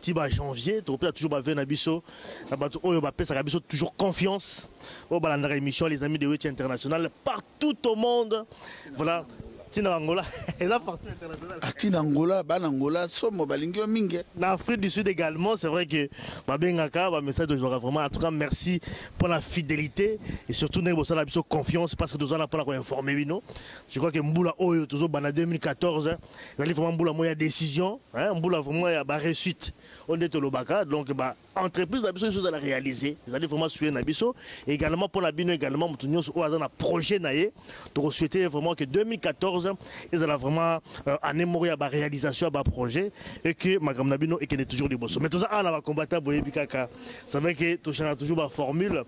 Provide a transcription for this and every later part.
ti ba janvier tokopesa toujours bave na biso na bato oyo bapesaka biso toujours confiance oyo balandaka émission les amis de weti international partout au monde voilà ntina angola eza partout international ntina angola bana angola somo balingi yo mingi eh. na afrique du sud également c'est vrai que babengaka bamessage tozwaka vraiment en tout cas merci pour la fidélité et surtout ndenge bosala biso confiance parce que toza na mpona koinforme bino je crois que mbula oyo tozobanda 2014 ezali vraiment mbula moko ya décision hein, mbula vraiment ya baréussite oyo nde tolobaka donc ba entreprise na biso nyonso ezala réalise ezali vraiment suye na biso également mpo na bino également moto nyonso oyo aza na projet na ye tokosouhaite vraiment que 2014 ezala vraiment euh, année moko ya baréalisation ya baprojet et que makambo na bino ekende toujours liboso mais toza awa na bacombatant boyebi kaka savai que tochanga toujours baformule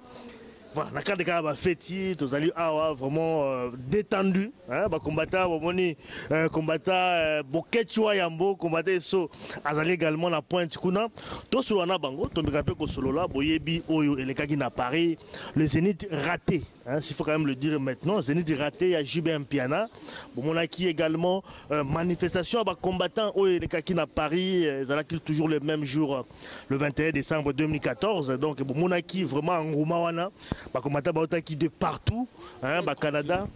Voilà, na cadre kaka ba feti tozali awa vraiment euh, détendu hein, ba combattant bomoni euh, combattant euh, boketchwa yambo combattant eso azali également na pointe kuna tosolola na bango tomeka mpe kosolola boyebi oyo elekaki na Paris le Zénith raté Hein, s'il faut quand même le dire maintenant, Zenith raté, il y a JB Mpiana. Bon, on a qui également euh, manifestation à combattants au Kakina Paris, euh, ils allaient toujours le même jour le 21 décembre 2014 donc bomonaki vraiment engouement wana bakomata bautaki de partout hein, ba canada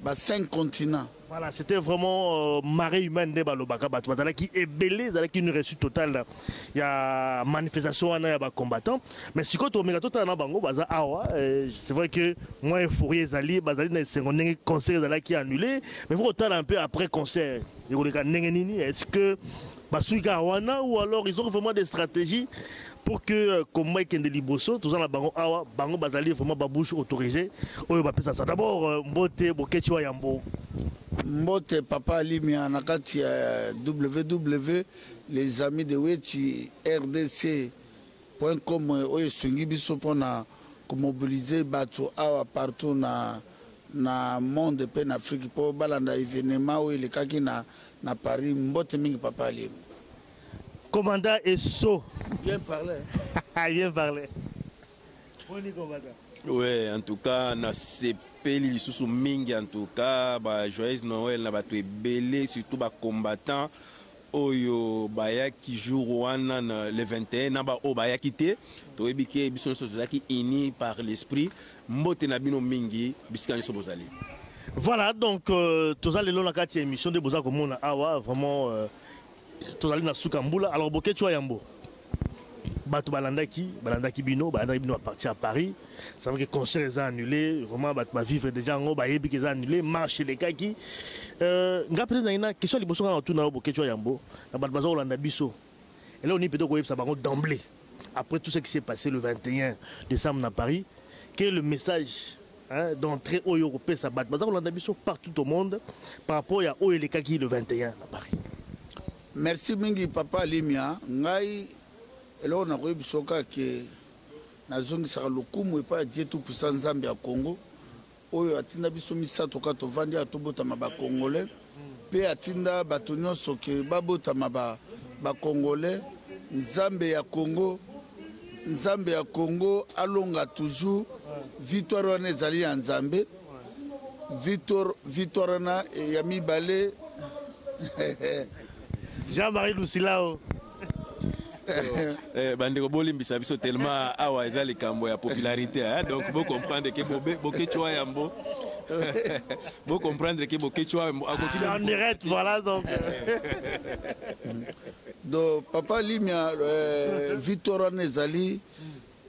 ba cinq continents voilà c'était vraiment euh, marée humaine nde balobaka bato bazalaki ebele ezalaki une réussite totale ya manifestation wana ya bacombattant mais sikoyo tomeka totala na bango baza awa euh, c'est vrai que moi euphorie ezali bazali na esengo ndenge concert ezalaki annulé mais faut kotala un peu après concert ekoleka ndenge nini est ce que basuki kaka wana ou alors ils ont vraiment des stratégies pour que euh, combat ekende liboso toza na bango awa bango bazali vraiment babouche autorisé oyo bapesa sa d'abord euh, mbote bokeci wa yambo mbote papa alimia na kati ya euh, ww les amis de weti rdc point com oyo esungi biso mpona komobilize bato awa partout na na monde mpe na afrique mpo balanda evenema oyo elekaki na Na Paris mbote mingi papa Alim. Commandant Esso. Bien parlé. Bien parlé. Boni commandant. Ouais, en tout cas, na sepeli lisusu mingi en tout cas, ba joyeux Noël na bato ebele surtout ba combattants oyo bayaki jour wana na le 21 na baoyo bayaki te toyebi ke biso nyonso tozalaki unis par l'esprit Mbote na bino mingi bisika nyoso bozali. Voilà donc euh, toza lelo na kati ya émission de boza komona awa vraiment euh, tozali na suka mbula alors boketchu yambo bato balandaki balandaki bino balandaki bino baparti ya paris ça veut que concert eza annulé vraiment bato bavivre déjà yango bayebi ke eza annulé marche elekaki euh, nga mpenza nangi na question liboso nga natuna yo boketshwa yambo na bato baza kolanda biso eloko nini peut-être koyebisa bango d'emblée après tout ce qui s'est passé le 21 décembre na Paris quel est le message hein, d'entrée oyo okopesa bato baza kolanda biso partout au monde par rapport ya oyo elekaki le 21 na Paris merci mingi papa Limia ngai eloko nakoyebisa oka ke nazongisaka lokumu epai ya Dieu tout puissant Nzambe ya Congo oyo atinda biso misato kaka tovandi awa tobotama bacongolais mpe atinda bato nyonso ke babotama bacongolais ba nzambe ya congo nzambe ya congo alonga toujours victoire wana ezali ya nzambe victoire wana eh, ya mibale jean-marie lusilao eh, bandeko bolimbisa biso tellement awa eza likambo ya popularité hein? donc bocomprendre ke bokecua yambo Vous comprenez que Bokechua a En direct, voilà donc. donc, papa Limia, euh, Victor Anezali,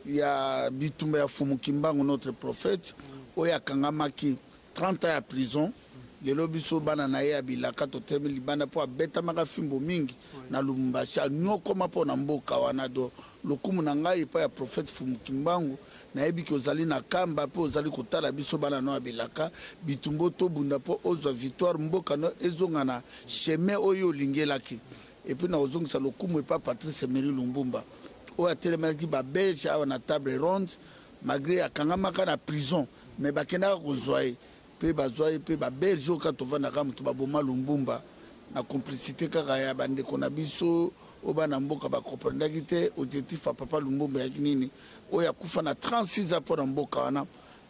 il y a Bitumba Fumukimbangu, notre prophète, où il y a Kangamaki, 30 ans à prison. lelo biso bana na ye ya bilaka totelemi libanda mpo abetamaka fimbo mingi na lumumbashi anyokoma mpo na mboka wana do lokumu na ngai epai ya profete fumukimbangu nayebi ke ozali na kamba mpe ozali kotala biso bana no ya bilaka bitumbo tobunda mpo ozwa victoire mboka no ezonga na chemin oyo olingelaki epuis na kozongisa lokumu epai patrice emery lumbumba oyo atelemelaki babelge awa na table ronde malgré akangamaka na prison mais bakendaka kozwa ye mpe bazwa ye mpe babelge oyo kaka tovandaka moto baboma lumbumba na complicité kaka ya bandeko na biso oyo bana mboka bakomprendaki te objectif ya papa lumbumba yaki nini oyo akufa na 36 ans mpo na mboka wana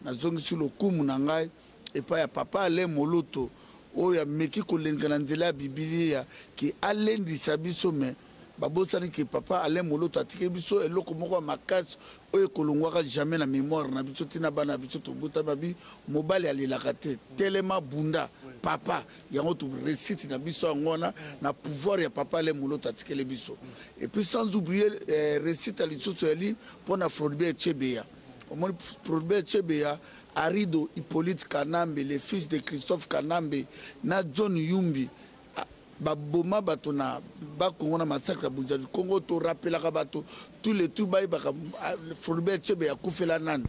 nazongisi lokumu na ngai epai ya papa ale moloto oyo ameki kolenga na nzela ya bibilia ke alendisa biso me babosani ke papa alain moloto atiki biso eloko moko ya makasi oyo ekolongwaka jamais na mémoire na biso ntina bana biso tobota babi mobali alelaka te telema bunda papa yango toresite na biso yango wana na pouvoir ya papa alain moloto atikeli biso epuis sans oublier eh, resite ya lisusu yali mpo na floribert chebeya omoni floribert chebeya arido hippolyte kanambe le fils de christophe kanambe na john yumbi baboma bato na bakongo na massacre ya bunzadi kongo torapelaka bato tout le tour bayebaka ah, floribert chebe akufela nani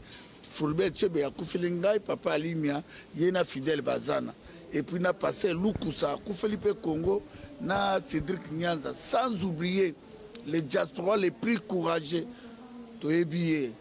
floribert chebe akufeli ngai papa alimia ye na fidèle bazana epuis na paster lukusa akufeli mpe congo na cédric nyanza sans oublier le diaspora le plus courageux toyebi ye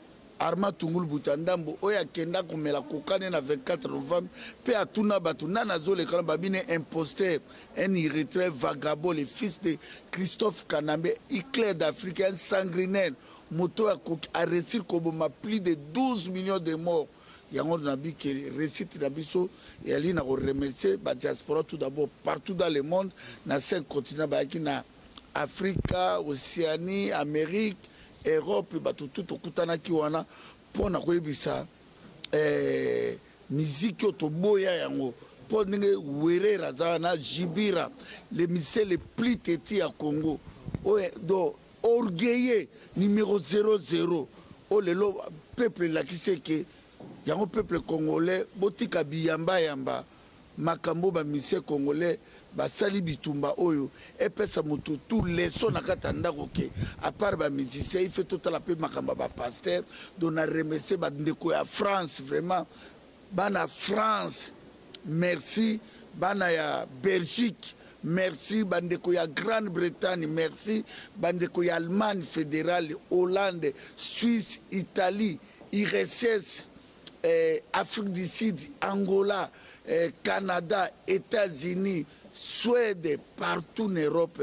Armand Tungulu Buta Ndambo oyo akenda komela kokane na 24 novembre mpe atuna bato nani azolekana babine imposteur un irretraite vagabond le fils de Christophe Kanambe éclair d'Afrique un sanguinaire moto oyo akoki aresir koboma plus de 12 millions de morts yango nabi ke réussite na biso eyali na koremercie badiaspora tout d'abord partout dans le monde na cinq continent bayaki na afrika oceanie amérique europe bato tu tokutanaki wana mpo na koyebisa eh, miziki oyo toboya yango mpo ndenge werera aza wana jibira le musicien le plus teti ya congo oyo do orgueilleux numero 00 oyo lelo peuple elakisi eke yango peuple congolais botika biyambayamba makambo ba musiciens congolais basali bitumba oyo epesa moto tout leso na kati ya ndako ke apart ba musicien ife totala mpe makambo ya bapaster don na remese bandeko ya france vraiment bana france merci bana ya belgique merci bandeko ya grande bretagne merci bandeko ya allemagne fédérale hollande suisse italie irss eh, afrique du sud angola eh, canada états-unis suède partout na europe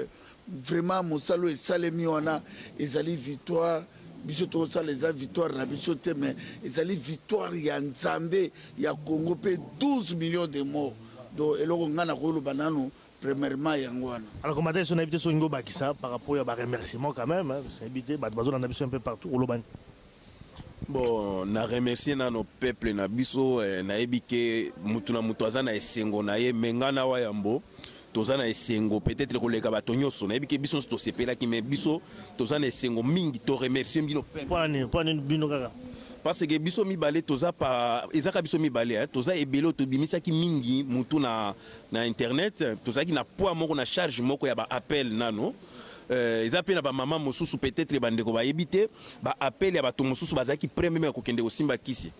vraiment mosala oyo esalemi wana ezali victoire biso tokosala eza victoire na biso te mais ezali victoire ya nzambe ya congo mpe 12 millions de morts donc eloko ngai nakoloba nanu premièrement yango wana alors komata biso nayebi te soki ngobakisa par rapport ya baremerciement quand même nayebi te bato bazolanda biso un peu partout olobani Bon, na remercier nano peuple na biso eh, nayebi ke mutu na mutu aza na esengo na ye menga na wa yambo toza na esengo peut-être koleka bato nyonso nayebi ke biso nyonso tosepelaki mais biso toza na esengo mingi to remercier bino mpo nini bino kaka parce que biso mibale toza pa ezaka biso mibale eh? toza ebele tobimisaki mingi mutu na, na internet tozalaki na poids moko na charge moko ya baappel nano Euh, eza mpe na bamama mosusu peut-être bandeko bayebi te baappel ya bato mosusu bazalaki prêt meme ya kokende kosimba kisi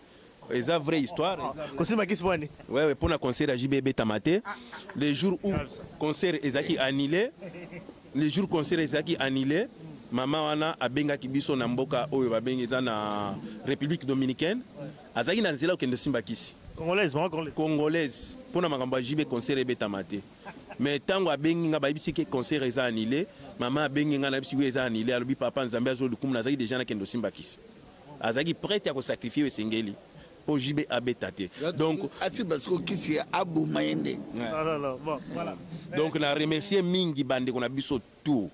eza vraie histoire kosimba kisi pwani wewe mpo na concert ya jb ebetama te le jour où concert ezalaki annulé le jour concert ezalaki annulé mama wana abengaki biso na mboka oyo babengi eza na république dominicaine azalaki na nzela kokende osimba kisi congolaise mpo na makambo ya jb concert ebetama te mais ntango abengi nga bayebisi ke concert eza annule mama abengi nga nayebisi wi eza annule alobi papa nzambe azo lokumu nazalaki deja nakende osimba kisi azalaki prete ya kosakrifie oyo esengeli mpo jb abeta te donc asimba siko kisi aboma ye nde donc na remercie mingi bandeko na biso tour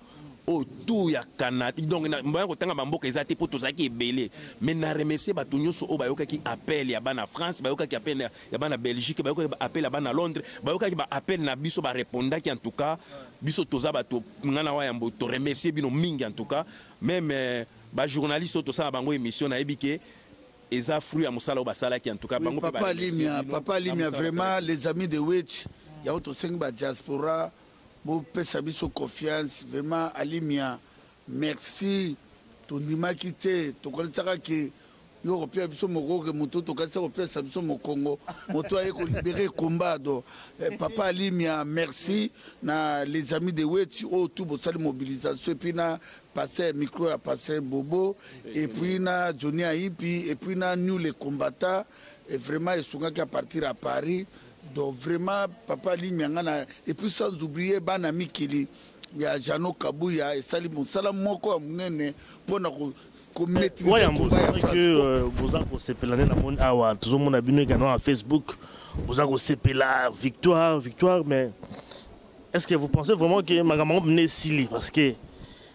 oyo tour ya canada donc mbaya kotanga bamboka eza te mpo tozalaki ebele mais na remercie bato nyonso oyo bayokaki appel ya bana france bayokaki appel ya bana belgique bayokaki appel ya bana londres bayokaki baappel na biso barepondaki en tout cas biso toza bato ngai na wa yambo toremercie bino mingi en tout cas meme euh, bajournaliste oyo tosala bango émission nayebi ke eza fruit ya mosala oyo basalaki en tout cas bango papa limia papa limia vraiment les amis de witch yango tosengi badiaspora bopesa biso confiance vraiment alimia merci tondimaki te tokanisaka ke yo kopesa biso mokoke moto tokanisa kopesa biso mokongo moto aye kolibere combat do eh, papa alimia merci na les amis de weti oyo oh, tu bosali mobilisation epuis na pasteur micro ya pasteur bobo epuis na johnny aipi epuis na new le combata vraiment esungaki à partir à paris donc vraiment papa limya nga na et puis sans oublier bana mikili ya jano kabuya esali mosala moko ya monene mpo na Euh, boza kosepela nde namoni awa tozomona bino ekana na facebook boza kosepela victoire victoire mais est ce que vous pensez vraiment que makambo yango mine esili parce que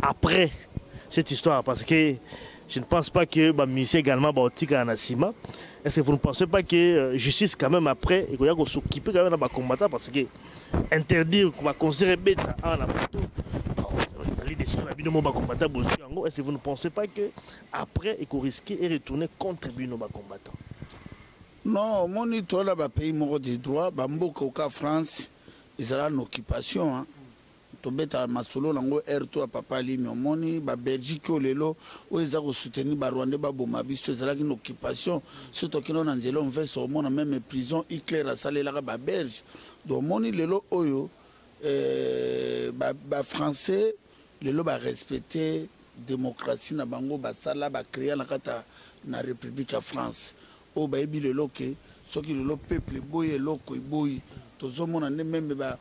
après cette histoire parce que je ne pense pas que ba musiciens également ba otika na sima est-ce que vous ne pensez pas que euh, justice quand même après il faut s'occuper quand même ba combattants parce que interdire ba concert beta en la moto ezali décision na bino mo ba combattants bozwi yango est-ce que vous ne pensez pas que après il faut risquer et retourner contre bino ba combattants non omoni tola bapays moko de droit bamboka oka france ezala na occupation hein. tobeta masolo na ngo heure to ya papa alimi omoni ba belgique oyo lelo oyo eza kosoutenir ba rwandais baboma biso ezalaki na occupation so tokino na nzela omvesa omona meme prison hitler asalelaka ba belge donc omoni lelo oyo eh, bafrançais ba lelo barespecte démocratie na bango basala bacrea na kati na république ya france oyo bayebi lelo ke soki lelo peuple eboyi eloko eboyi tozomona nde meme ba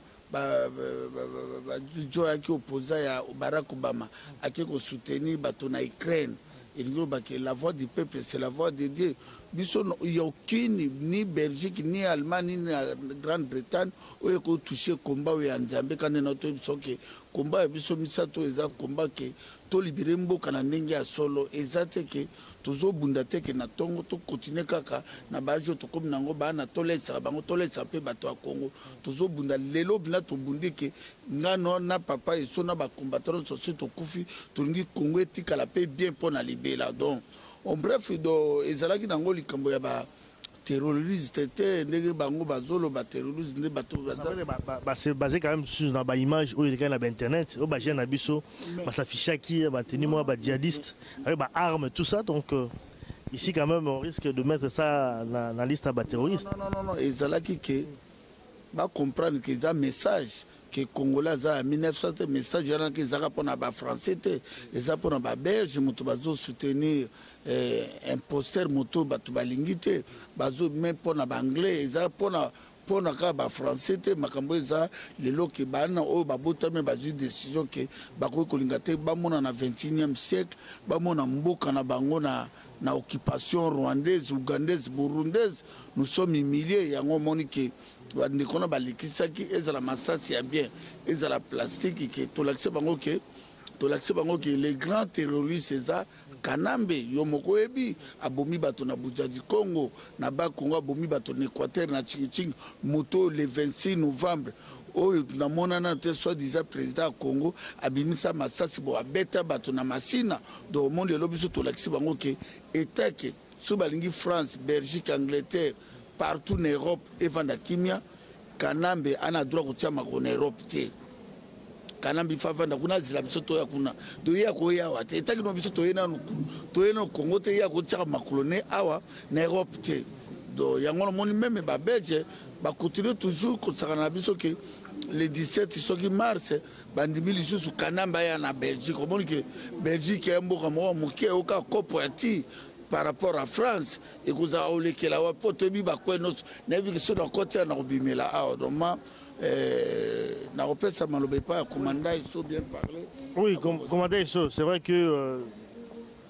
bajoyaki opposant ya barack obama ake kosoutenir bato na ukraine elingi oloba ke la voix du peuple c'est la voix de dieu biso ya okini ni belgique ni allemagne ni na grande bretagne oyo ekotouche komba oyo ya nzambe kande na toyebi biso ke komba ya biso misato eza komba ke tolibere mboka na ndenge ya solo eza te ke tozo bunda te ke na tongo to continuer kaka na ba age tokomi nango bana tolesaka bango tolesa pe bato ya Congo tozo bunda lelo bina tobundi ke nga no na papa eso na ba combattant sosi tokufi tolingi Congo etikala pe bien pona libela donc en bref do ezalaki nango likambo ya ba terroriste te ndenge bango bazoloba terroriste nde bato baze quand même susu na baimage oyo elekaki na bainternet oyo bagene na biso basafichaki bateni mwa badjihadiste avec baarme tout ça donc euh, ici quand même on risque de mettre ça na, na liste ya baterroriste non, non, non, non. ezalaki ke bacomprendre ke eza message ke congolais aza ya 1900 te message wana ke ezaka mpona bafrançais te eza mpona baberge moto bazosoutenir eh, imposter moto bato balingi te bazo me mpona baanglais eza mpona mpona kaka bafrançais te makambo eza lelo ke bana oyo babotami bazwi décision ke bakoki kolinga te bamona na 21e siècle bamona mboka na bango na na occupation rwandaise ougandaise burundaise nous sommes humilier yango omoni ke bandeko wana balekisaki ezala masasi ya bien ezala plastiki ke tolakisa bango ke tolakisa bango ke le grand terroriste eza kanambe yo moko oyebi abomi bato na bujadi congo na bakongo abomi bato na équateur na chingiching moto le 26 novembre oyo namonana te soit disant président ya congo abimisa masasi bo abeta bato na masina donc omoni lelo biso tolakisi bango ke etake soki balingi france belgique angleterre partout na europe evanda kimia kanambe ana droit kotia makolo na europe te kanambe ifa avanda kuna azela biso toya kuna toye akoya awa te etakino biso toye nanu toye na congo te ye akotiaka makolo ne awa na europe te donc yango namoni meme babelge bakontinue toujours kosakana na biso ke le 17 soki mars bandimi lisusu kanambe aya na belgique omoni ke belgique ya mboka moko moke oyoka kopo ya ti par rapport à france ekozala olekela wapi mpo toyebi bakwe nyonso nayebi ke soki nakoti awa nakobimela awa doma eh, nakopesa maloba epai ya komanda eso bien parle oui komanda eso c'est vrai que euh,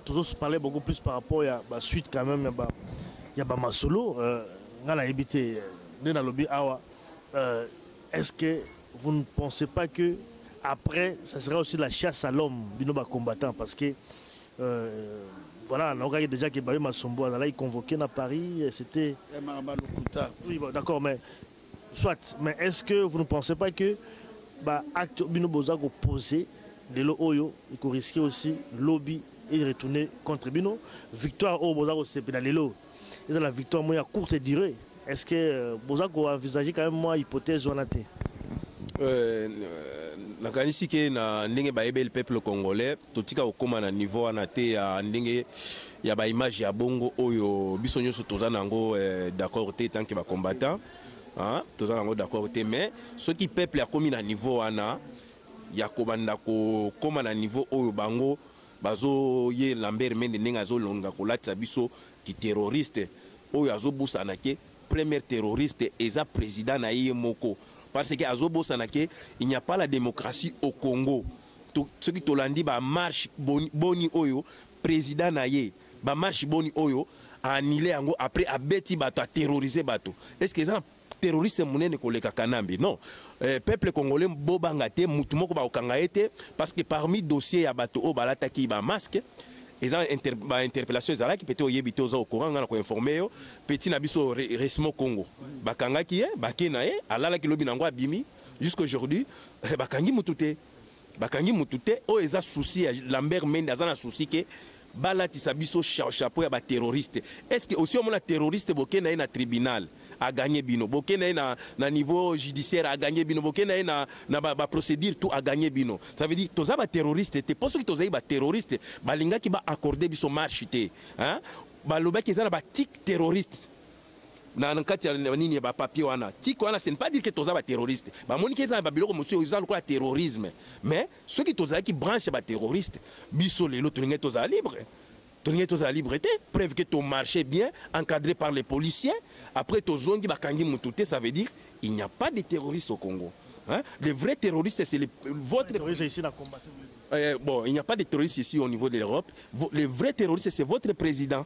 tous parler beaucoup plus par rapport ya basuite quand même ya bamasolo euh, ngai nayebi te euh, nde nalobi awa euh, est ce que vous ne pensez pas que après ça sera aussi la chasse à l'homme bino bacombattant parce que Euh, voilà, naokaki déjà que Bayo Masombo azalaki convoqué na Paris, euh, c'était... Eh, oui, bon, d'accord, mais soit, mais est-ce que vous ne pensez pas que bah, acte bino boza ko poser de l'eau oyo, il risquer aussi lobby et retourner contre bino, victoire au boza ko sepela lelo, eza la victoire moya courte durée est ce que euh, boza ko envisager quand même moi hypothèse wana te euh, nakanisi ke na ndenge bayebeli peuple congolais totika kokóma na niveau wana te ya ndenge ya baimage ya bongo oyo biso nyonso toza na yango eh, d'accord te tant ke bacombattant ah, toza na yango d'accord te mais soki peuple akomi na niveau wana ya kobanda kokóma na niveau oyo bango Bazo ye Lambert Mende ndenge azo longa kolatisa biso ki terroriste oyo azo bosana ke première terroriste eza président na ye moko parce que azo bosana ke il n'y a pas la démocratie au Congo to, soki tolandi ba marche boni, boni oyo président na ye ba marche boni oyo a annulé yango après abeti bato a terroriser bato est-ce que eza terroriste munene koleka kanambe non eh, peuple congolais bobanga te mutu moko bakokanga ye te parce que parmi dossier ya bato oyo balataki ba masque eza inter, ba interpellation ezalaki pete oyebi te oza ocourant ngai na koinforme yo peti na biso resmo congo bakangaki ye bake na ye alalaki lobi na yango abimi jusqu'aujourd'hui eh, bakangi mutu te bakangi mutu te oyo oh, eza souci ya lambert mende aza na souci ke balatisa biso chapeau ya baterroriste estce osi omona terroriste boke na ye na tribunal aganye bino boke na ye na, na niveau judiciaire aganye bino boke na ye na, na baprocédure ba tout aganye bino ça veut dire toza baterroriste te mpo soki tozali baterroriste balingaki baaccorde biso marche te hein? balobaki eza na batique terroriste na kati ya nini ya bapapier wana tiko wana ce ne pas dire que toza baterroriste bamoniki eza na babiloko mosusu eza lokola terrorisme mais soki tozalaki branche ya baterroriste biso lelo tolingai tozala libre tolingai tozala libre te preuve que tomarche bien encadré par les policiers après tozongi bakangi motu te ça veut dire il n'y a pas de terroriste au congo hein? le vrai terroriste c'est le, votre euh, bon il n'y a pas de terroriste ici au niveau de l'europe le vrai terroriste c'est votre président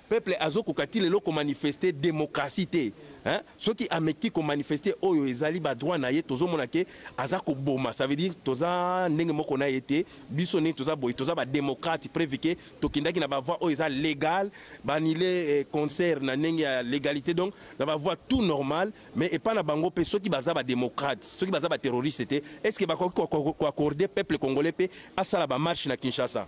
Peuple azo koka ti lelo ko manifester democratie te hein? soki ameki ko manifester oyo ezali ba droit na ye tozo mona ke aza ko boma ça veut dire toza ndenge moko na ye te biso ni toza boye toza ba démocrate preuve ke tokindaki na ba voix oyo eza légal ba annule eh, concert na ndenge ya légalité donc na ba voix tout normal mais epa na bango pe soki baza ba démocrate soki baza ba terroriste te est-ce que bakoki ko accorder peuple congolais pe asala ba marche na Kinshasa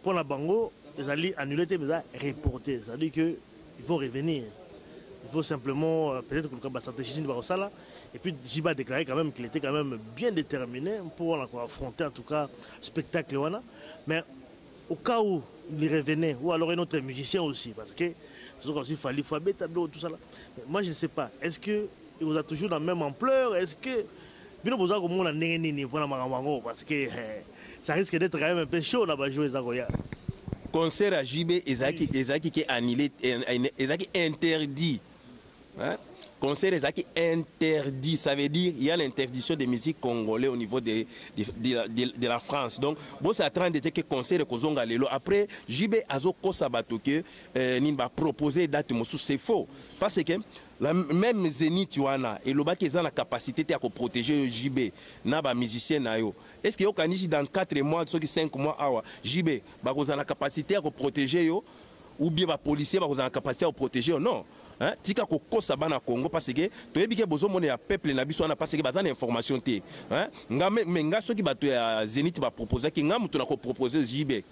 Mpo na bango ezali annule te mais eza reporte c'est à dire que il faut revenir il faut simplement euh, peut-être koluka bastratégie nini bakosala et puis jiba déclaré quand même qu'il était quand même bien déterminé mpo wana koaffronter en tout cas spectacle wana mais au cas où il revenait ou alors un autre musicien aussi parce que tozoka aussi fali fo abeta biloko tout ça là moi je ne sais pas est-ce que ekozala toujours na même ampleur est-ce que Bino boza komona ndenge nini mpona makambo yango parce que eh, ça risque d'être quand même un peu chaud na bajour eza koya concert ya JB ezalaki ezalaki ke annulé ezalaki interdit hein? concert ezalaki interdit ça veut dire il y a l'interdiction des musiques congolais au niveau de, de, de, de, de la France donc bosala 30 ete ke concert ekozonga lelo après JB azokosa bato ke eh, nini bapropose date mosusu c'est faux parce que La meme Zenith wana elobaki eza na capacité te ya ko protéger yo JB na ba musiciens na yo. Est-ce que yo kanisi dans 4 mois soki 5 mois awa JB bakozala na capacité ya ko protéger yo ou bien ba policiers bakozala na capacité ya ko protéger yo? Non. Hein? Tika ko kosa bana Congo parce que toyebi ke bozo mona ya peuple na biso wana parce que baza na information te. Hein? Nga me, me nga soki bato ya Zenith ba proposaki nga mutu na ko proposer JB.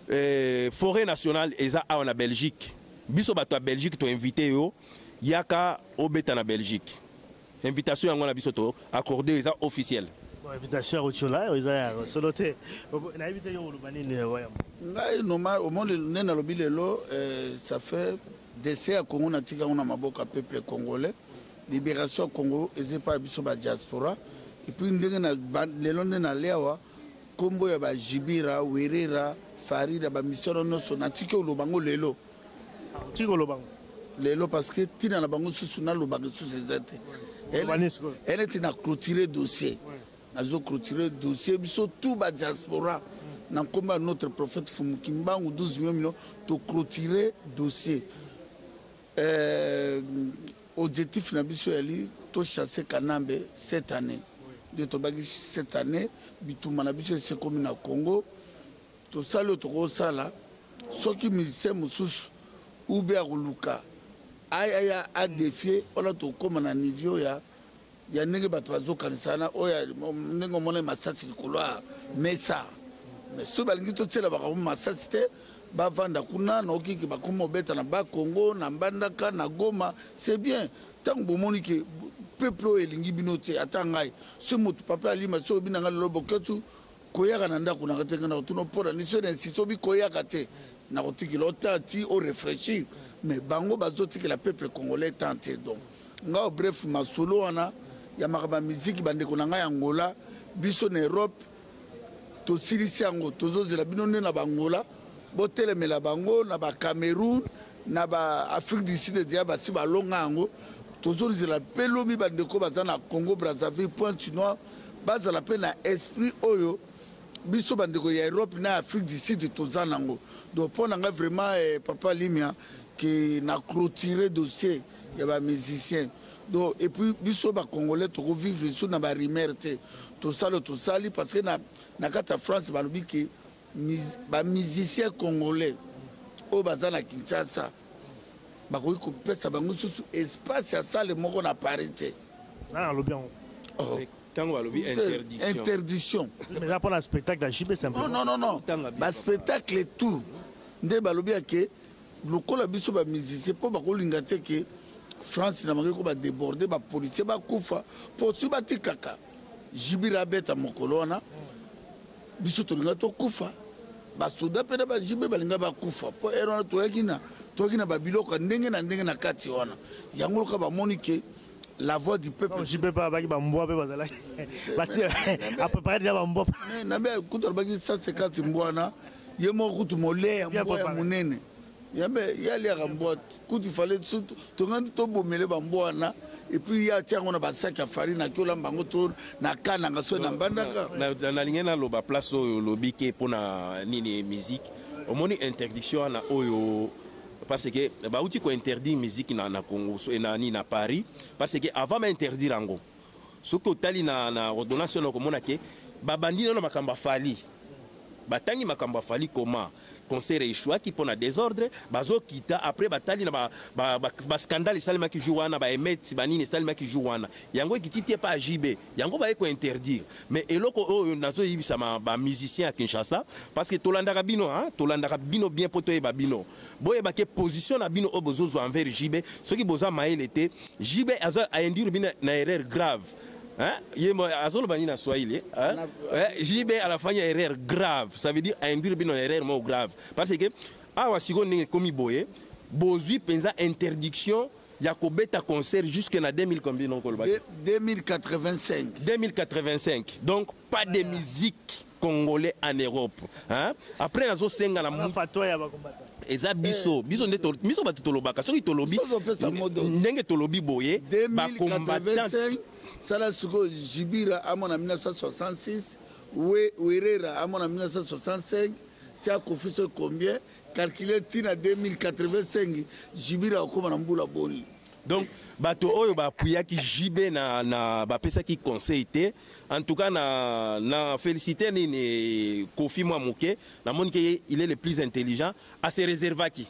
Euh, forêt nationale eza awa na Belgique. Biso bato ya Belgique to invite yo yaka obeta na Belgique. Invitation yango na biso to accordé eza officiel. Bon invitation au chola eza ya solo te. Na invite yo oloba nini euh, waya. Ngai normal au monde ne na lobi lelo euh, ça fait décès ya Congo na tika na maboka peuple congolais. Libération Congo ezepa biso ba diaspora. Et puis ndenge na lelo nde na lewa Kombo ya ba Jibira, Werera, Farida ba misoro noso na tiki oloba ngo lelo. Ah, tiki oloba ngo. Lelo parce que tina na bango susu na loba ke susu ezate. Elle est na clôturer dossier. Nazo clôturer dossier biso tout ba diaspora. na nkombo ya notre prophète fumukimbangu 12 million million toclotire dossier Euh, objectif na biso yali to chasser Kanambe cette année. Nde tobaki cette année bitumba na biso esekomi na Congo. Tosali oyo tokosala soki musicien mosusu ube akoluka aya adefie wana tokóma na niveau ya ya ndenge bato bazokanisa wana oyo ndenge omona masasi likolo ya mesa mais soki balingi totyela bakambo masasi te bavanda kuna na okiki bakoma obeta na bakongo na mbandaka na goma c'est bien ntango bomoni ke peuple oyo elingi bino te ata ngai so moto papa alima so obi na ngai lelo boketsu koyaka na ndako nanga te ngai nakotuna mpo na niso na insiste obi koyaka te nakotikela ota ti orefraîchir mais bango bazotikela peuple congolais temps te donc ngao bref masolo wana ya makambo ya miziki bandeko na ngai ya ngola biso na europe tosilisi yango tozozela bino nde na bangola botelemela bango na bacameroun na baafrique du sud deja basi balonga yango tozolizela mpe lobi bandeko baza na congo brazzaville point chinois bazala mpe na esprit oyo biso bandeko ya europe na afrique du sud toza nango donc mpo na ngai vraiment eh, papa limia ke na clôture dossier ya ba musicien do epuis biso bacongolais tokovivre lisusu na barimer te tosala tosali parce que na, na kati ya france balobi ke bamusicien congolais oyo baza na kinshasa bakoki kopesa bango susu espace ya sale moko na paris te ah, alobi yango oh. ntango balobi interdiction eza mpona spectacle ya jb non non non baspectacle tout nde balobi yake lokola biso ba musicien mpo bakolinga te ke france na bango ba débordé ba policier bakufa mpo soki batikaka jibira abeta mokolo wana biso tolinga tokufa basoda mpe na bajibe balinga bakufa mpo ere wana toyaki na toyaki na babiloko ya ndenge na ndenge na kati wana yango loka bamoni ke la voix du peuple jibe mpe abaki bambwa mpe bazalaki batie apprepare deja bambwa nabe kutu alobaki 150 mbwa na ye moko kutu mole ya mbwa ya monene yambe ye aliaka mbwa kutu ifale surtout tongandi tobomele bambwa wana epuis ye atia yango na basaki ya farine ake olamba yango to na ka nanga soki na mbandaka nalingi naloba place oyo olobi ke mpo na nini musique omoni interdiction wana oyo parce que bauti kointerdire musique na, na congo na, na, na paris parce que avant bainterdire yango soki otali na, na ordonnance wana okomona ke babandi nano makambo ya fali batangi makambo ya fali koma concert echuaki mpo na desordre bazokita après batali na bascandale ba, ba, ba scandale esalemaki jour wana baemeti banini esalemaki jour wana yango ekiti te mpa jb yango baye kointerdire mais eloko oyo nazoyebisa bamusicien ya kinshasa parce que tolandaka bino tolandaka bino bien mpo toyeba bino boyeba ke position na bino oyo bozozwa envers jibe soki boza mayele te jibe aindure bino na erreur grave Hein? Yembo azoloba nini na Swahili hein? Eh, JB à la fin il y a erreur grave. Ça veut dire induire bino erreur mo grave. Parce que awa siko ndenge komi boye bozui penza interdiction ya kobeta concert jusque na 2000 combien non koloba 2085 2085 donc pas de musique congolais en Europe hein après nazo senga na eza biso eh, biso nde biso bato tolobaka soki tolobi ndenge tolobi boye ba combattant sala sikoyo jibira amona 1966 werera amona 1965 tia kofi soki combien calculer ti na 2085 jibira okoma na mbula boni donc bato oyo bapuyaki jb na, na bapesaki conseil te en tout cas na, na félicité nini kofi mwa moke namoni ke il est le plus intelligent ase réservaki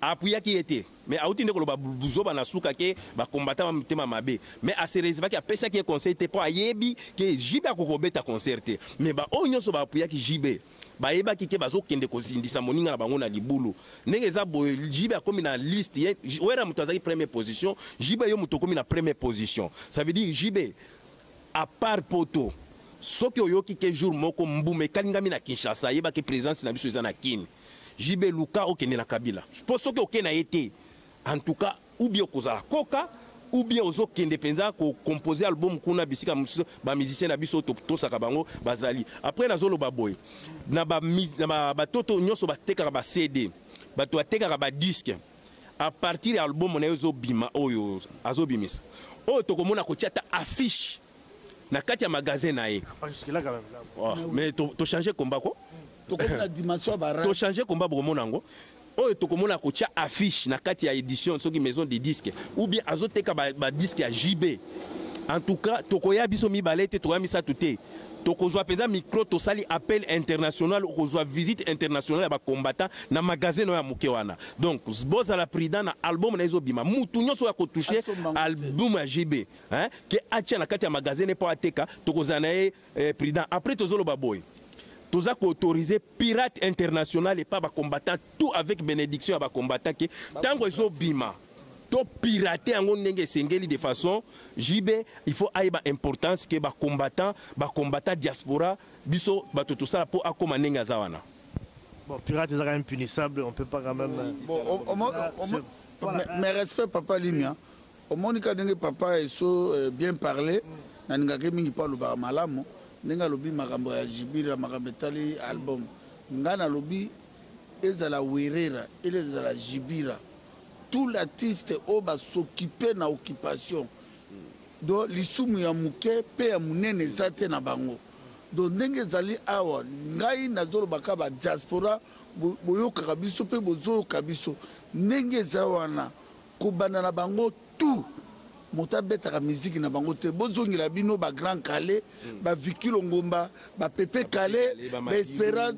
apuyaki ye te mais auti nde koloba buzoba na suka ke bakombata mitema mabe mais ase réservaki apesaki ye conseil te mpo ayebi ke jb akokobeta concert te mais baoyo nyonso baapuyaki jb bayebaki te bazokende kozindisa moninga na bango na libulu ndenge eza boye jibe akomi na liste ye wera moto azalaki première position jibe yo moto okomi na première position ça veut dire jibe à part poto soki oyoki ke jour moko mbuma ekalingami na kinshasa ayebaki présence na biso eza na kini jibe luka okende na kabila mpo soki oke na ye te en tout cas ou bien okozala koka ou bien ozo kende penza ko composer album kuna bisika mosusu ba musiciens na biso tosaka bango bazali après nazo loba boye na ba na ba toto nyoso batekaka ba CD bato batekaka ba disque à partir ya album na yo ezobima oyo azobimisa oyo tokomona kotia ata affiche na kati ya magasin na ye oh, mais tochange combat ko tochange combat bokomona yango oyo tokomona kotya affiche na kati ya édition soki maison de disque ou bien azoteka badisque ya jb en tout cas tokoya biso mibale te tokoya misato te tokozwa mpenza micro tosali appel international okozwa visite internationale ya bacombattant na magasin oyo ya moke wana donc bozala prudent na album na ezobima mutu nyonso oyo akotouche album ya jb hein, ke atia na kati ya magasin ne po ateka tokozala na ye eh, prudent après tozoloba boye toza koautorize pirate international epa bacombattant tout avec bénédiction ya bacombattant ke ntango ezobima topirate yango ndenge esengeli de façon jb il faut ayeba importance ke bacombattant bacombattant diaspora biso bato tosala mpo akóma ndenge aza wana bon, pirate ezaka impunissable on peut pas quand même euh, bon, mais respect papa limia omoni ka ndenge papa eso euh, bien parle nalingaki mingi mpo alobaka malamu ndenge alobi makambo ya jibira makambo etali album ngai nalobi ezala werera ele ezala jibira tout l'artiste oyo basokipe na occupation do lisumu ya moke mpe ya monene eza te na bango do ndenge ezali awa ngai nazolobaka badiaspora boyokaka biso mpe bozoyoka biso ndenge eza wana Kobanda na bango tout moto abetaka miziki na bango te bozongela bino ba grand kale mm. ba viki longomba ba pepe kale ba espera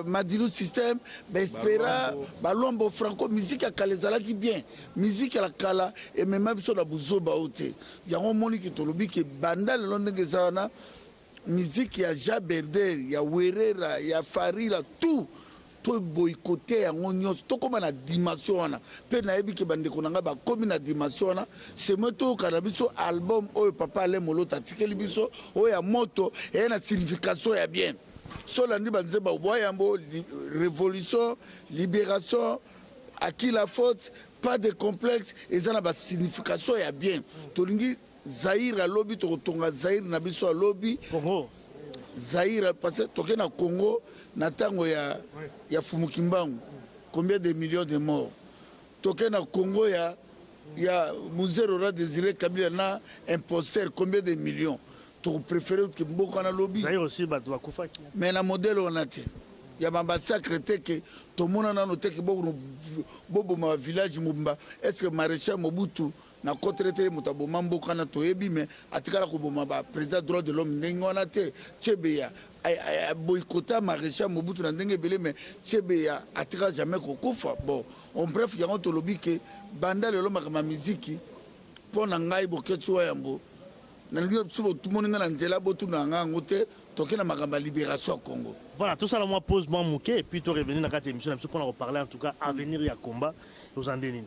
madilu système ba espera balombo franco miziki ya kala ezalaki bien miziki ya kala emema biso na buzoba oyo te yango omoni ke tolobi ke banda lelo ndenge eza wana miziki ya jaberder ya werera ya farira tout toboykote yango nyonso tokóma na dimension wana mpe nayebi ke bandeko na ngai bakómi na dimension wana semoi toyoka na biso album oyo papa ale molota atikeli biso oyo ya moto eye na signification ya bien so olandi banzemba obwa yango révolution libération à qui la faute pas de complexe eza na basignification ya bien tolingi Zaire ya lobi tokotonga Zaire na biso ya lobi. Congo. Zaire parce que toke na Congo na tango ya ya Fumukimbangu. Combien de millions de morts? Toke na Congo ya ya Muzero ra désiré Kabila na imposteur combien de millions? Toko préférer que mboka na lobi. Zaire aussi bato bakufaki. Mais na modèle on a te. ya bamassacre te ke tomona nano te ke boboma village mobimba est ce que maréchal mobutu na kotere te moto aboma mboka na toyebi me atikala koboma ba président droit de l'homme ndenge wana te chebeya boycota maréchal mobutu na ndenge ebele me chebeya atika jamais kokufa bon en bref yango tolobi ke banda lelo makambo ya miziki mpo na ngai boketsi wa yambo nalingi biso botumoni ngai na nzela botuna yanga yango te toke na makambo ya libération ya congo voilà tosala mwa pause mwa moke epuis to revenir na kati ya émission na biso mpo na koparle en tout cas avenir ya combat ozwa nde nini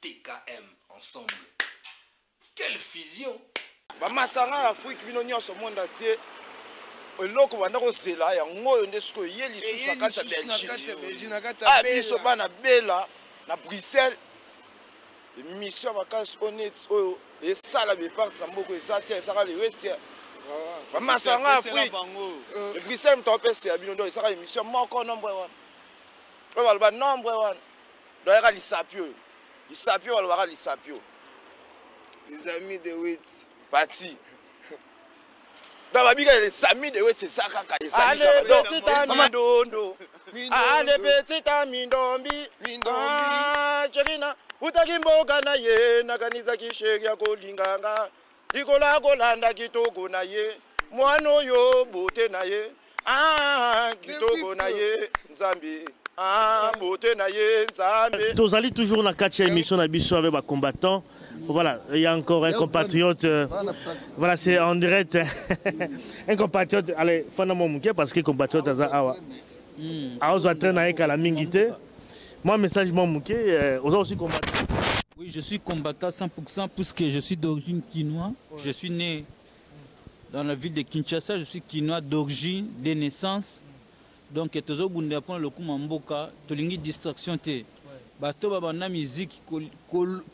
TKM ensemble. Quelle fusion! Ba masanga ya Afrique bino nionso monde entier eloko banda kozela yango oyo nde sikoyo eye lisusu na kati ya belgique a ah, biso bana bela na bruxelles emission ya makasi oyo neti oyo esala bepartisa mboko eza te ezaka lewetia bamasanga ya afrique euh. bruxelles moto apesa ya bino donc ezaka emission moko nombre wana oyo baloba nombre wana Donc yaka lisapi oyo. Lisapi oyo alobaka lisapi oyo. Les amis de Witz. Pati. Donc babika les amis de Witz eza kaka les amis. Allez petit ami dondo. Allez petit ami ndombi. Mindombi. Ah, Chekina. Utaki mboka na ye nakanisaki sheri ya kolinganga. Likolo akolanda kitoko na ye mwana oyo bote na ye ah, kitoko na ye nzambe ah, bote na ye nzambe tozali toujours na kati ya émission na biso avec ba combattants Voilà, il y a encore un compatriote. Euh, voilà, c'est en direct. un compatriote, allez, Fana Momuke, parce que compatriote, Awa. Hmm. Awa, traîne avec la mingite. Moi, message, moi, mouké, euh, aux aussi combattant. Oui, je suis combattant 100% puisque je suis d'origine kinoise. Je suis né dans la ville de Kinshasa. Je suis kinois d'origine, de naissance. Donc, tozo bunda pona le kuma mboka, tolingi distraction te. Bato ba banda musique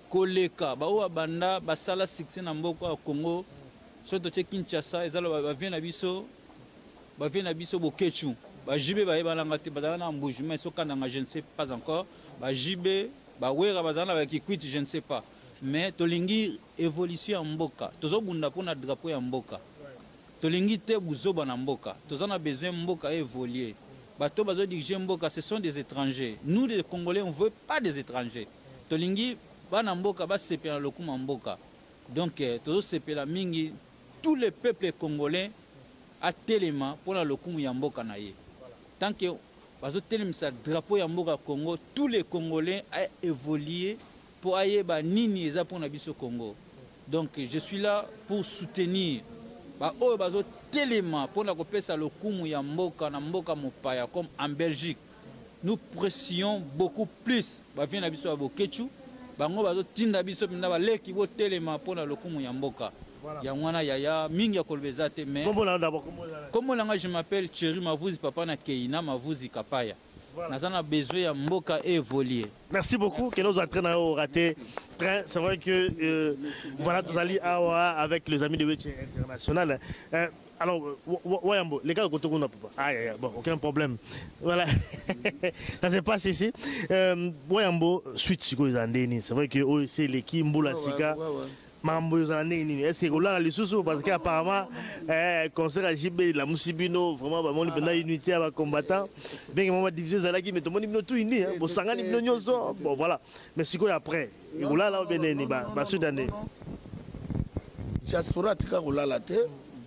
koleka, ba oa banda basala succès na mboka Congo. Soto te Kinshasa, ezalo ba vient na biso ba vie na biso boketshu ba JB bayebana nga te bazala na mbuji mais soka nanga je ne sais pas encore ba JB ba wera bazala na ba kikwiti je ne sais pas mais tolingi évolution ya mboka tozobunda mpo na drapeau ya mboka tolingi te buzoba na mboka toza na besoin mboka évoluer bato bazo dirige mboka ce sont des étrangers nous les congolais on veut pas des étrangers tolingi bana mboka basepela na lokuma mboka donc eh, tozosepela mingi tout le peuple congolais atelema pona lokumu ya mboka na ye tant que bazotelemisa drapeau ya mboka congo tous les congolais a évoluer mpo ayeba nini eza mpo na biso congo donc je suis là pour soutenir baoyo bazotelema mpo na kopesa lokumu ya mboka na mboka mopaya comme en belgique nous pressions beaucoup plus bavie na biso ya boketshu bango bazotinda biso mpenza baleki botelema mpo na lokumu ya mboka yango wana yaya mingi ya koloba eza te mais nkombo na ngai je m'appelle cheri mavuzi papa na kei na mavuzi kapaya naza na besoin ya mboka evolie merci beaucoup kende ozwa train na yo orate train c'est vrai que euh, voilà tozali awa avec les amis de wetche international euh, Alors, Wayambo, les gars, côté qu'on a pas. Ah, yeah, bon, aucun problème. Voilà. ça se passe ici. Euh, Wayambo, suite, c'est quoi, C'est vrai que oh, c'est l'équipe Mboula Sika. Ouais, ouais, ouais. mambo ezala ndenge nini ese kolala lisusu parce que apparemment eh, concert ya jb elamusi bino vraiment bamoni mpenza unité ya bacombattant benge mwa badivision ezalaki mais tomoni bino tout uni bosangani bino nyonso bon voilà mais sikoyo après kolala obe nini basuda nde diaspora atika kolala te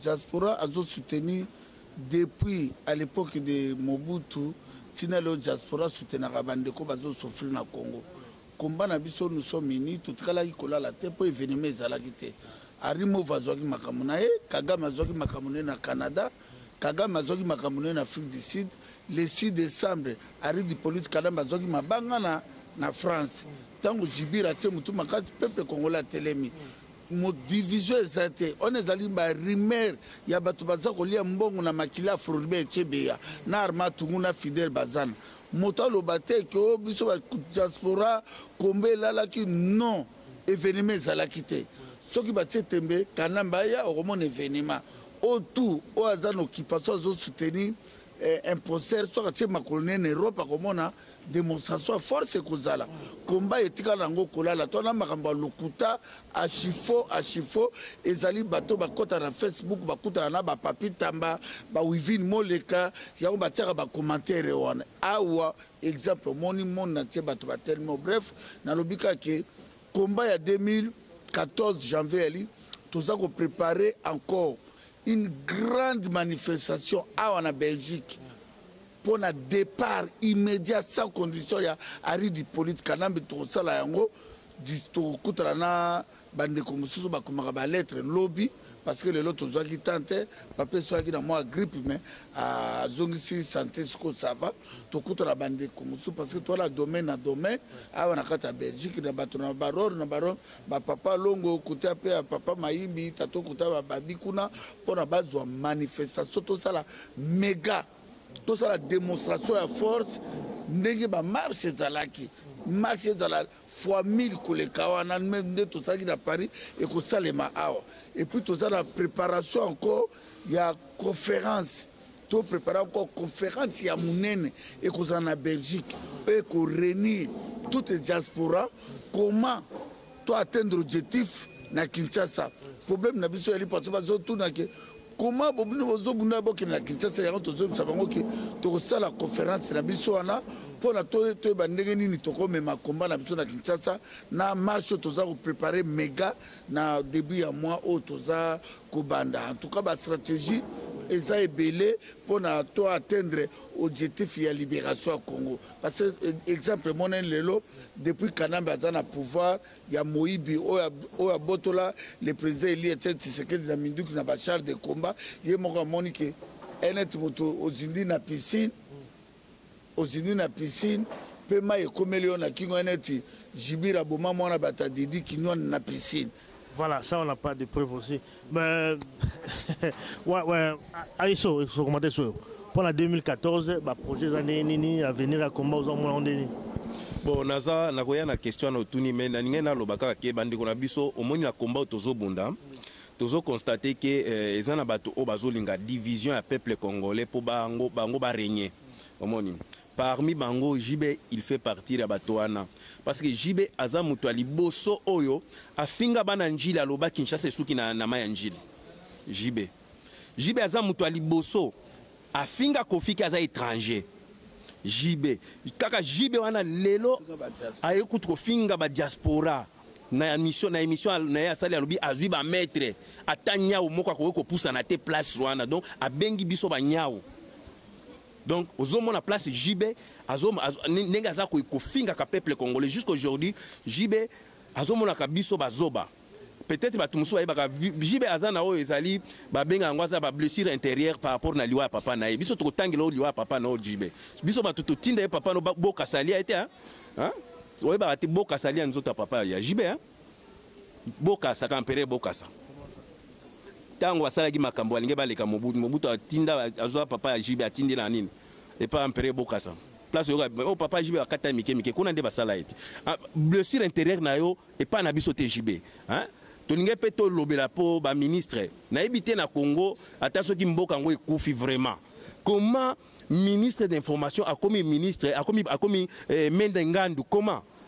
diaspora azosoutenir depuis à l'époque de mobutu ntina leo diaspora soutenaka bandeko bazosouffrir na congo komba na biso nous sommes unis totikalaki kolala te mpo événement ezalaki te arimova azwaki makambo na ye kagame azwaki makambo na ye na canada Kagame azwaki makambo na Afrique du Sud le 6 décembre Henri Hippolyte Kanambe azwaki mabanga na, na France ntango Jibir atie motu makasi peuple congolais atelemi division eza te wana ezali barumeur ya bato baza kolia mbongo na makila afrorbe echebeya na arma tungu na fidel bazana moto aloba te ke o oh, biso badiaspora komba elalaki non evenema ezalaki te soki batie tembe kanamba aya okomona evenema o tout oyo aza na occupation azo soutenir eh, imposter soki atie makolo ne na europe akomona démonstration ya force ekozala komba etikala yango kolala to na makambo ya lokuta achifo achifo ezali bato bakɔta na facebook bakutana na bapapi tamba bawivine moleka yango batiaka bacommentaire wana awa exemple omoni monde na tie bato batelema bref nalobi kake Combat ya 2014 janvier yali toza ko préparer encore une grande manifestation awa na Belgique mpo na départ immédiat sans condition ya Harry Hippolyte Kanambe tokosala yango tokokutana na bandeko mosusu bakomaka baletre lobi parce que lelo tozwaki temps te bapesaki na mwa grippe mais azongisi santé siko sava tokutana bandeko mosusu parce que toala domaine na domaine awa na kati ya belgique na bato na baror na baror bapapa longo kuta mpe ya papa mayimbi tato kuta bababi kuna mpona bazwa manifestation tosala mega tosala démonstration ya force ndenge bamarche ezalaki marche ezalaki fois 1000 koleka wana nde tozalaki na paris ekosalema awa epuis toza na préparation encore ya conférence to prépare encore conférence ya monene ekozala na belgique oyo ekorenir toute diaspora comment to atteindre objectif na kinshasa problème na biso yali parti bazotuna ke koma bobino bozobunda bokende na kinshasa yango tozoyebisa bango ke tokosala conference na biso wana mpona toyeba ndenge nini tokomema komba na biso na kinshasa na marche oyo toza koprepare mega na début ya mois oyo toza kobanda en tout cas bastratégie eza ebele mpona to atteindre objectif ya libération ya congo parce que exemple emonani lelo depuis kanambe aza na pouvoir ya moyibi oyo abotola le président Elie Etienne Tshisekedi na minduki na ba chars de combat ye moko amoni ke enet moto ozindi na piscine ozindi na piscine mpe mai ekomeli yo na kingo neti jibira boma mwana bata didi kinwani na piscine voilà ça on n'a pas de preuve aussi Mais, ouais, ouais, Aïsso, il faut commenter sur. Pendant 2014, bah, projet année nini, à venir à combat aux hommes nini. bon naza nakoya na question na otuni me nalingai naloba kaka ke bandeko na biso omoni na combat oyo tozobunda tozo constate ke eh, eza na bato oyo bazolinga division ya peuple congolais mpo bango, bango baregne omoni Parmi bango JB il fait partir ya bato wana parce que JB aza moto ya liboso oyo afinga bana njili aloba Kinshasa esuki na, na mai ya njili JB JB aza moto ya liboso afinga kofiki aza étranger JB kaka JB wana lelo aye kutu kofinga ba diaspora na émission na émission na ye asali alobi azwi ba maître ata nyau moko akoki kopusana te place wana donc abengi biso ba nyau donc ozomona place JB ndenge aza kofingaka peuple congolais jusqu'aujourd'hui JB azomonaka biso bazoba peut-être bato mosusu bayebaka JB aza na oyo ezali babenga yango aza bablessure intérieure par rapport na liwa ya papa na ye biso tokotangela oyo liwa ya papa na oyo JB biso bato totinda ye papa no boka salia ye te oyebaka te boka salia nzoto ya papa ya JB bokasa kampere bokasa ntango basalaki makambo balingi baleka mobutu mobutu atinda azwa papa ya jibe atindela nini epa ampere bokasa place oyoka oh, papa jibe bakata ye mike mike kuna nde basala ye te ah, blessure intérieure na yo epai na biso te jibe hein? tolingi mpe tolobela mpo baministre nayebi te na congo ata soki mboka yango ekufi vraiment comment ministre d'information akomi ministre akomi, akomi eh, mende ngandu comment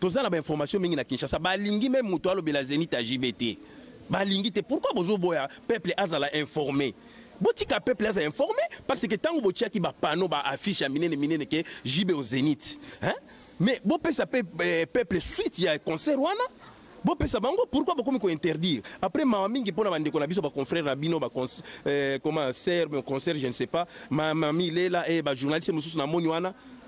toza na ba information mingi na Kinshasa balingi meme moto alobela Zenith ya JB te balingi te pourquoi bozoboya peuple azala informé botika peuple aza informé parce que ntango botiaki bapanneau baaffiche ya minene minene ke JB au Zenith hein? mais bopesa pe, eh, peuple suite ya concert wana bopesa bango pourquoi bokomi kointerdire après mawa mingi mpo na bandeko na biso baconfrère na bino eh, comment ser concert je ne sais pas mamami lela e eh, bajournaliste mosusu na moni wana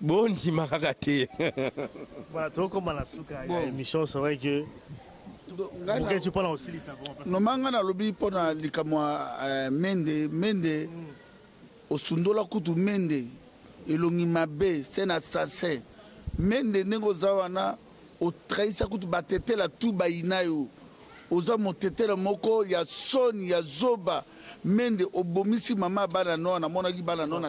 bondima kaka te voilà tokoma na suka ya émission c'est vrai que mokecu mpo na kosilisa noma ngai nalobi mpo na likambo ya euh, mende mende mm. osundola kutu mende elongi mabe se na sase mende ndenge oza wana otrahisa kutu batetela tu bayinayo oza motetela moko ya soni ya zoba mende obomisi mama ya bana noa namonaki bana noa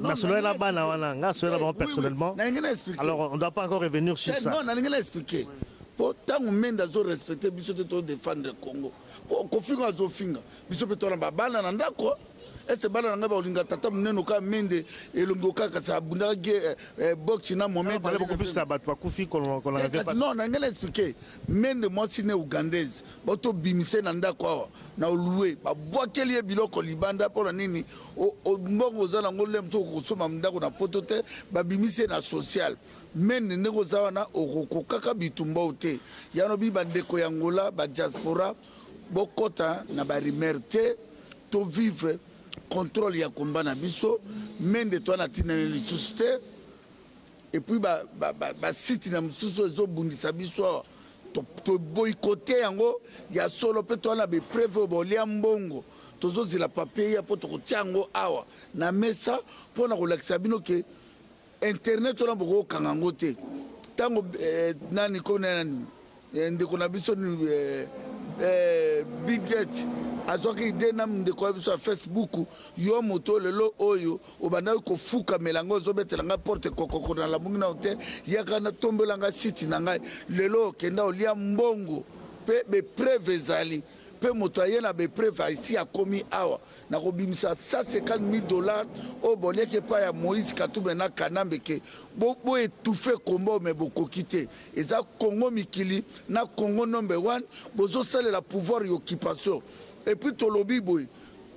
nasololaki na bana wana nga asolela bango personnellement alors on doit pas encore revenir sur ça nalingi na expliquer mpo ntango mende azorespecte biso te todefendre congo mpo kofinga azofinga biso mpe tona babana na ndako ese bana na ngai bakolinga tata monene oka mende elongi oka kasi abundaka ge eh, eh, boxe na momenon na ngai na explike mende mwasi ne ougandaise batobimise na ndako awa na olue babwakeli ye biloko libanda mpo na nini mbongo oza nango le mosu okokosomba ndako na poto te babimisi ye na sociale mende ndenge oza wana okokokaka bitumba o te yanobi bandeko ya ngola badiaspora bokota na ba rumeur te to vivre contrôle ya combat na biso mende to na tina ne lisusu te et puis ba ba ba, ba site na mususu ezo bundisa biso to, to boycotter yango ya solo pe to na be preuve bolia mbongo tozozela papier ya po tokotia yango awa na mesa mpo na kolakisa bino ke internet wana bokokanga yango te ntango eh, nani ko nani eh, ndeko na biso eh, eh, biget azwaki ide na ndeko ya biso ya facebook yo moto lelo oyo obandaki kofukamela yango ozobetela ngai porte kokoko na lamungi nao te yaka natombela ngai siti na ngai lelo okenda olia mbongo mpe bepreve ezali mpe moto aye na bepreve aisi akomi awa nakobimisa 150000 dollars oyo boliaki epai ya moïse katumbe na kanambe ke boetufe komba oyo me bokoki te eza congo mikili na congo number 1 bozosalela pouvoir ya occupation epuis tolobi boye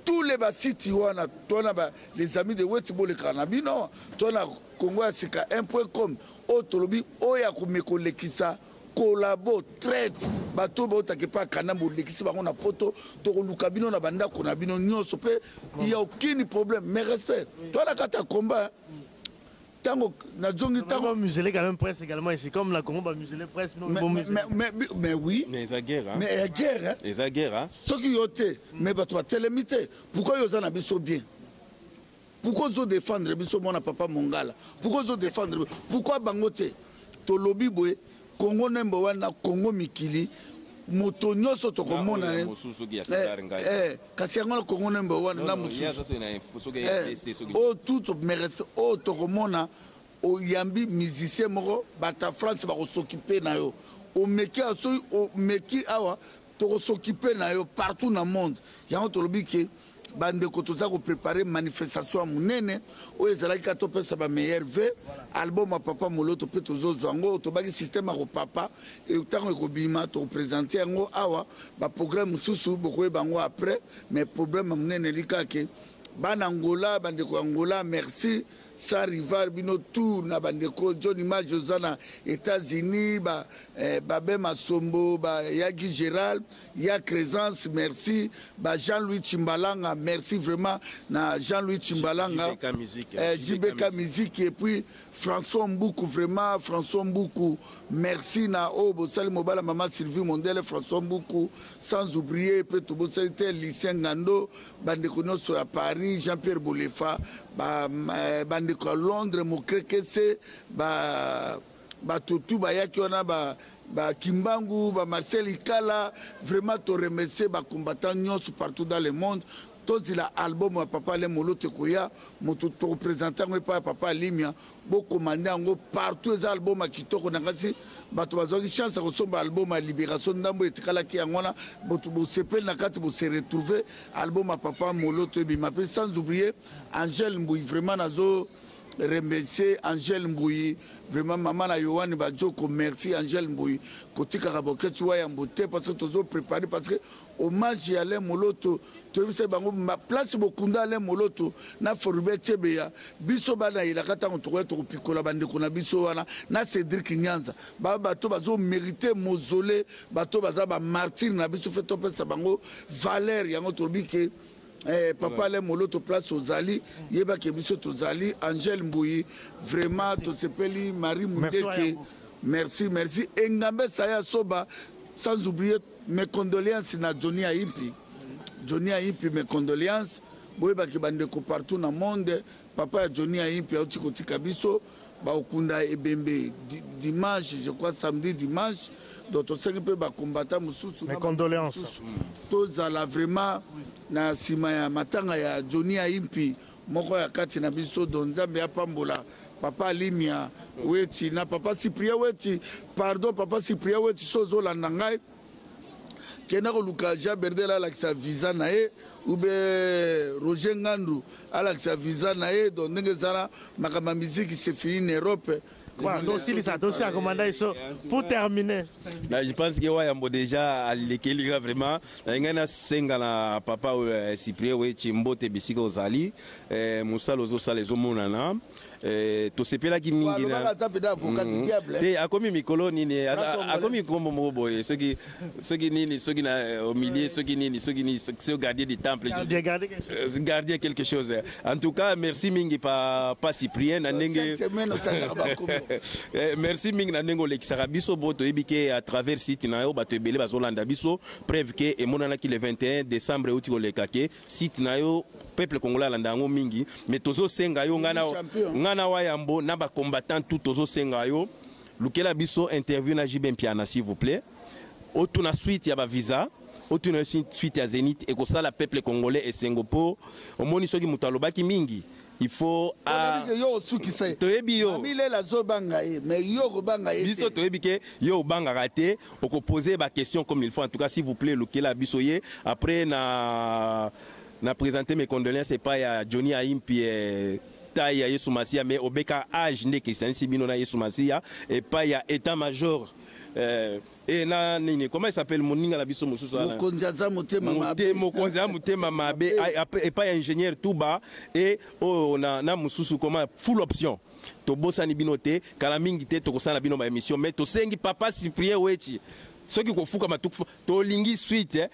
tous les basiti wana tona ba, les amis de weti bolekaka na bino tona congo ya sika 1 point com oyo tolobi oyo akomekolekisa kolabo traite bato oyo bautaka epai ya kanambe olekisi bango na poto tokoluka bino na bandako na bino nyonso mpe ya okini problème mais respect to na kati ya combat ntango nazongi ntango musele quand même presse également ici comme na congo bamusele presse mais oui mais eza guerre mais ya guerre eza guerre soki yo te mais bato batelemi te pourquoi yo oza na biso bien pourquoi ozo défendre biso mwana papa mongala pourquoi ozo défendre pourquoi bango te tolobi boye congo number one na congo mikili moto nyonso tokomona eh, eh, kasi yango na congo number one na mosusu oyo tout mes respect oyo oh, tokomona oyambi oh, musicien moko bata france bakosokipe na yo omeki awa soki omeki awa tokosokipe na yo partout na monde yango tolobi ke bandeko toza koprepare manifestation ya monene oyo ezalaki kaka topesa bameilleur v album ya papa moloto mpe tozozwa yango tobaki systeme ya kopapa ntango ekobima tokopresente yango awa baprograme mosusu bokoyeba yango après mais problème ya monene elikake bana angola bandeko ya angola merci sans rival bino tour na bandeko john image oza na états-unis babe eh, ba masombo bayagi gérald ya Cresence merci ba Jean-Louis Chimbalanga merci vraiment na Jean-Louis Chimbalanga JBK musique, eh, JBK musique et puis François Mbuku vraiment François Mbuku merci na oyo oh, bosali mobala mama Sylvie Mondele François Mbuku sans oublier mpe tobosali te Lucien Ngando bandeko nyonso ya Paris Jean-Pierre Bolefa bandeko ba eh, ya Londres Mokrekese ba bato tu bayaki wana ba bakimbangu ba marcel ikala vraiment toremercie bacombattant nyonso partout dans le monde tozila album ya papa ale moloto ekoya moto tokopresente yango epai ya papa alimia bokomande yango partout eza album ya kitoko na kasi bato bazwaki chance ya kosomba album ya libération ndambo etikalaki yango wana boto bosepeli na kati bose retrouve album ya papa moloto ebima mpe sans oublie angele mbui vraiment nazo remercier angèle mbuyi vraiment mama na yohane bajoko merci angèle mbuyi kotikaka boketsi wa yambo te parce que tozo prépare parce que hommage ya alain moloto toyebisaki bango place bokunda alain moloto na forubert cebeya biso bana elaka ntango tokoya tokopikola bandeko na biso wana na cédrik nyanza ba bato bazo mérite mosole bato baza bamartire na biso fe topesa bango valeur yango tolobi ke Eh, papa le moloto place ozali yeba ke biso tozali angel mbuyi vraiment tosepeli marie mundeke merci merci engambe saya soba sans oublier mes condoléances na johnny aimpi johnny aimpi mes condoléances boyebaki bandeko partout na monde papa ya johnny aimpi auti kotika biso bakokunda ebembe dimanche je crois samedi dimanche donc tosengi mpe bakombata mosusu tozala vraiment na nsima ya matanga ya johni aimpi moko ya kati na biso don nzambe apambola papa alimia weti na papa cyprien weti pardon papa cyprien weti so ozolanda ngai kenda koluka jean berdel alakisa visa na ye ube roger ngandu alakisa visa na ye donc ndenge ezala makambo ya miziki sefini na europe Voilà, tosilisa tosia komanda iso pour terminer na je pense que wayambo déjà alekeli nga vraiment na ngai nasenga na papa oyo eh, cyprien weci mbote bisika ozali eh, mosala ozosala ezomonana Eh, tosepelaki mingi mm. te akomi mikolo nini eh, akomi nkombo moko boye soki soki nini soki na eh, au milieu soki nini soki nini soki gardien du temple gardien quelque chose en tout cas merci mingi pa pa cyprien na ndenge merci mingi na ndenge olekisaka biso bo toyebi ke à travers site na yo bato ebele bazolanda biso preuve ke emonanaki le 21 décembre euti koleka ke site na yo peuple congolais alanda yango mingi mais tozosenga yo ngai na wa yambo na bacombattant tout tozosenga yo lukela biso interview na jb mpiana s'il vous plaît otuna suite ya bavisa otuna suite ya zenith ekosala peuple congolais esengo mpo omoni soki moto alobaki mingi il faut a yo osukisa ye toyebi yo amilela azobanga ye mais yo okobanga ye biso toyebi ke yo obangaka te okopose baquestion comme il faut en tout cas s'il vous plaît lukela biso ye après na na présente mes condoléances epai ya johnny aimpi eh, tai ya yesu masiya mais obeka age nde ekristanisi bino na yesu masiya epai ya état major eh, Eh, na nini comment il s'appelle moninga na biso mosusu wana mokonzi aza motema mabe mokonzi ya motema mabe epai ya ingénieur tuba et oyo oh, na, na mosusu comment full option tobosani bino te kala mingi te tokosala bino ba émission mais tosengi papa cyprien wechi soki kofukama tolingi suite eh?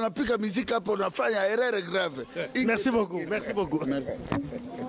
napika mizika mpo na fanya erreur grave merci beaucoup merci beaucoup merci.